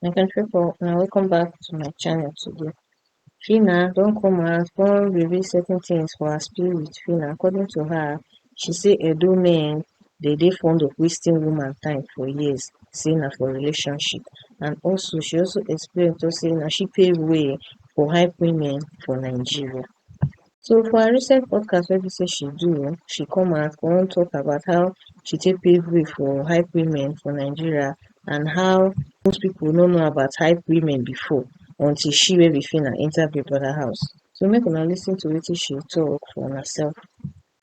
my country people una welcome back to my channel today fina don come out come reveal certain things for her spirit with fina according to her she say edo men dey dey fond of wasting woman time for years say na for relationship and also she also explain to say na she pave way for high women for nigeria so for her recent podcast wey be say she do um she come out come talk about how she take pave way for hype women for Nigeria and how most people no know about hype women before until she wey be Phyna enter Big Brother house so make una lis ten to wetin she talk for una self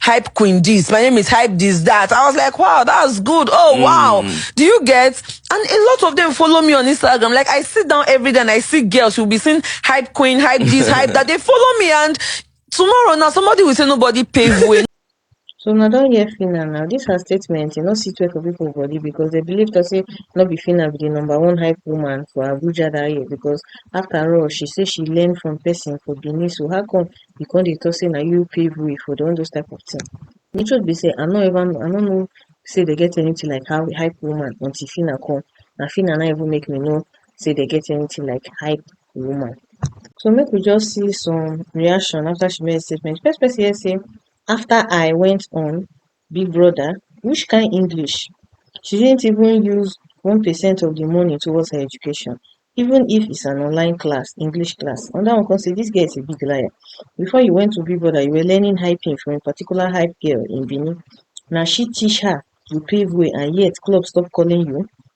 hype queen this, my name is hype this, that. I was like, wow, that's good. Oh, mm. wow. Do you get? And a lot of them follow me on Instagram. Like I sit down every day and I see girls who'll be seeing hype queen, hype this, hype that. They follow me and tomorrow now somebody will say nobody pave way. So una don hear Phyna now. This her statement, you know, sit well for people body because they believe to say not be Phyna be the number one hype woman for Abuja that year because after all, she say she learned from person for Benin. So how come you come dey talk say na you pave way for dem all those type of thing the truth be say i no ever know i no know say dem get anything like how hype woman until Phyna come na Phyna na even make me know say dem get anything like hype woman so make we just see some reaction after she made the statement first person here say after i went on big brother which kin english she didn't even use one percent of the money towards her education even if it's an online class english class another one come say this girl is a big liar before you went to big brother you were learning hyping from a particular hype girl in benin na she teach her you pave way and yet club stop calling you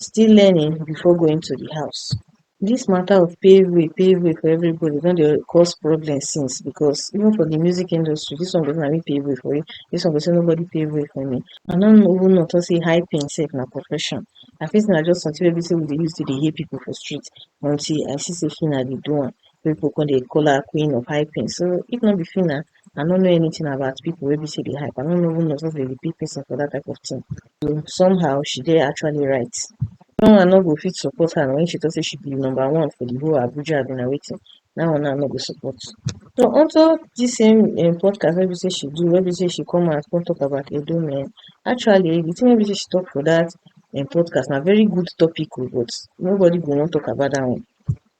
still learning before going to di house dis mata of pave way pave way for everybody don dey cause problem since because even for di music industry dis one go say na me pave way for you dis one go say nobody pave way for me I no even know talk say hyping sef na profession I fit say na just something wey be say we dey use take dey hail people for street until I see say Phyna dey do am wey people come dey call her queen of hyping so if no be Phyna I no know anything about people wey be say dey hype. I no know even know say they dey pay person for that type of thing. So somehow she dey actually right. No one no go fit support her when she talk say she be number one for the whole Abuja abi na wetin. That one now no go support. So onto this same um, podcast wey be say she do, wey be say she come out come talk about Edo men. Actually, the thing wey be say she talk for that um, podcast na very good topic o, but nobody go wan talk about that one.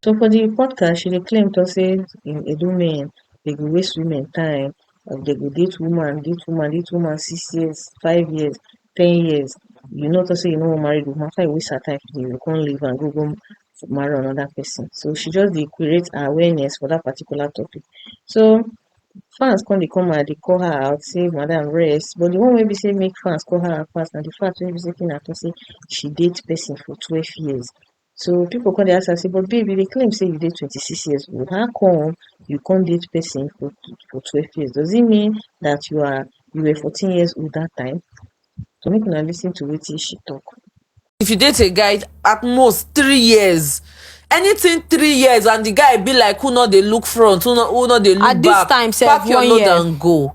So for di podcast she dey claim tok sey in Edo men dey go waste women time and dey go date woman, date woman, date woman six years, five years, ten years you no tok sey you no wan marry di woman after you waste her time finish you go come leave am go go marry anoda pesin. So she just dey create awareness for dat particular topic. So fans come dey come out dey call her out sey madam rest but di one wey be sey make fans call her out pass na di fact wey be sey make una tok sey she date pesin for twelve years So people come dey ask am say, but babe, you dey claim say you dey 26 years old. How come you come date person for for 12 years? Does it mean that you are you were 14 years old that time? So make una listen to wetin she talk. If you date a guy at most three years, anything three years and the guy be like who no dey look front, who no who no dey look At this back, time sef, pack your one load year. and go.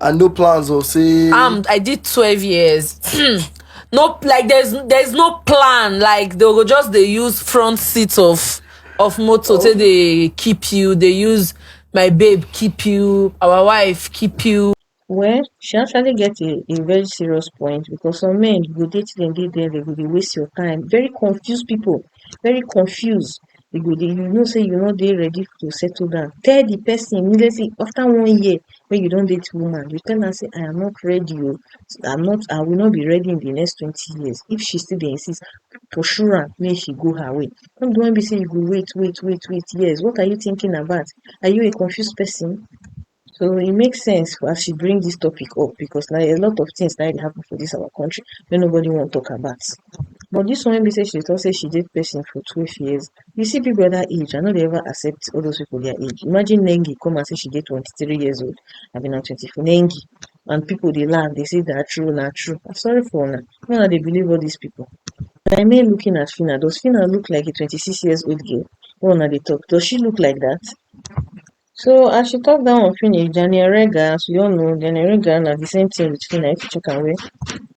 and no plans or say um i did 12 years no like there's there's no plan like they go just they use front seat of of motor oh. they keep you they use my babe keep you our wife keep you well she actually get a a very serious point because some men go date dem dey there they go dey waste your time very confused people very confused you go dey you know sey you no dey ready to settle down tell di pesin immediately afta one year wey you don date woman you tell am sey I am not ready oh I'm not I will not be ready in di next twenty years if she still dey insist pursue am make she go her way no be di one wey be sey you go wait wait wait wait years what are you thinking about are you a confused pesin So e make sense as she bring dis topic up because na a lot of things na dey happen for dis our country wey nobody wan talk about but dis one wey be sey she dey talk sey she date person for twelve years you see people wey be dat age I no dey ever accept all those people their age imagine Nengi come out sey she dey twenty three years old abi na twenty four Nengi and people dey laugh dey sey na true na true I'm sorry for una make una dey believe all dis people na me looking at Phyna does Phyna look like a twenty six years old girl wey una dey talk does she look like dat So as she talk that one finish, Danny Orega, as we all know, Danny Orega na the same thing with Fina. If you check am well,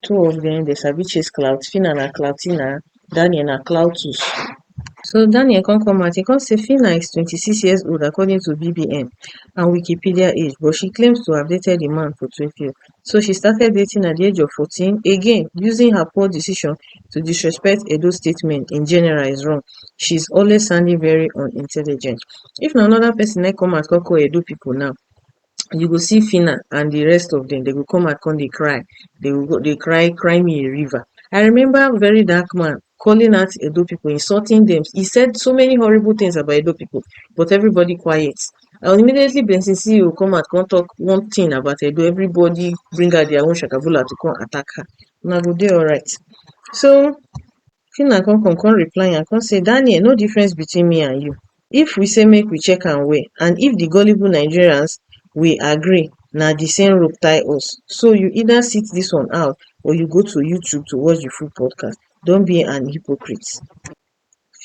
two of them they sabi chase clout. Fina na cloutina, Daniel na cloutus. So Daniel come come out, he come say Fina is 26 years old according to BBN and Wikipedia age, but she claims to have dated the man for 12 years. so she started dating at di age of 14 again using her poor decision to disrespect edo state men in general is wrong she is always sounding very unintelligent if na anoda pesin na come out come call edo pipo now you go see phyna and di rest of dem dem go come out come dey cry dey cry cry me a river i remember very dark man calling out Edo pipu, insulting dem. E said so many horrible things about Edo pipu but everybody quiet. And immediately Benson CEO come out come talk one thing about Edo, everybody bring out their own shakabula to come attack her. Una go dey alright. So Phyna come come come reply am come say Daniel no difference between me and you. if we say make we check am well and if di gullible nigerians we agree na di same rope tie us so you either sit dis one out or you go to youtube to watch di full podcast don't be an hypocrite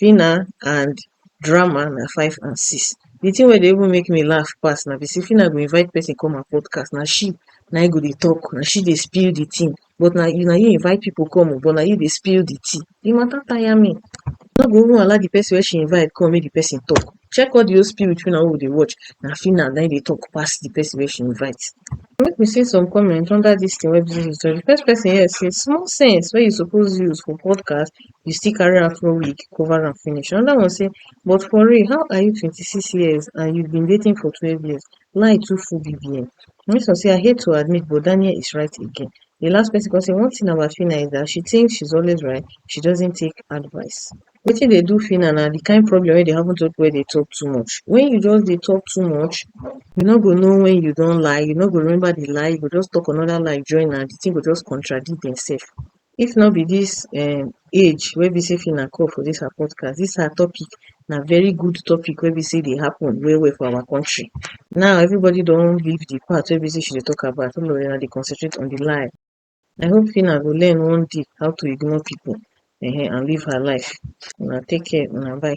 phyna and drama na five and six di thing wey dey even make me laugh pass na be say phyna go invite person come her podcast na she na im go dey talk na she dey spill di thing but na you na you invite people come oh but na you dey spill the tea, the matter tire me, I no go even allow the person wey she invite come make the person talk, check all the whole spirit wey una people dey watch na Phyna na im dey talk pass the person wey she invite. Make we see some comment under dis thing wey Bisi talk, the first person here say small sense wey you suppose use for podcast you still carry afro wig cover am finish, another one say but for real how are you twenty six years and you been dating for twelve years Lie too full BBF. Nice one say I hate to admit but Daniel is right again. The last person come say one thing about Fina is that she thinks she's always right, she doesn't take advice. Wetin dey do Fina na the kind problem wey dey happen to people wey dey talk too much. When you just dey talk too much, you no go know when you don lie, you no go remember the lie, you go just talk another lie join am, the thing go just contradict themselves. If no be dis um age wey be sey Fina come for dis her podcast, dis her topic na very good topic wey be sey e dey happen well well for our country. Now everybody don leave de part wey be sey she dey talk about, all of una dey concentrate on de lie. I hope Fina go learn one day how to ignore pipu um and live her life. Una take care, una bye.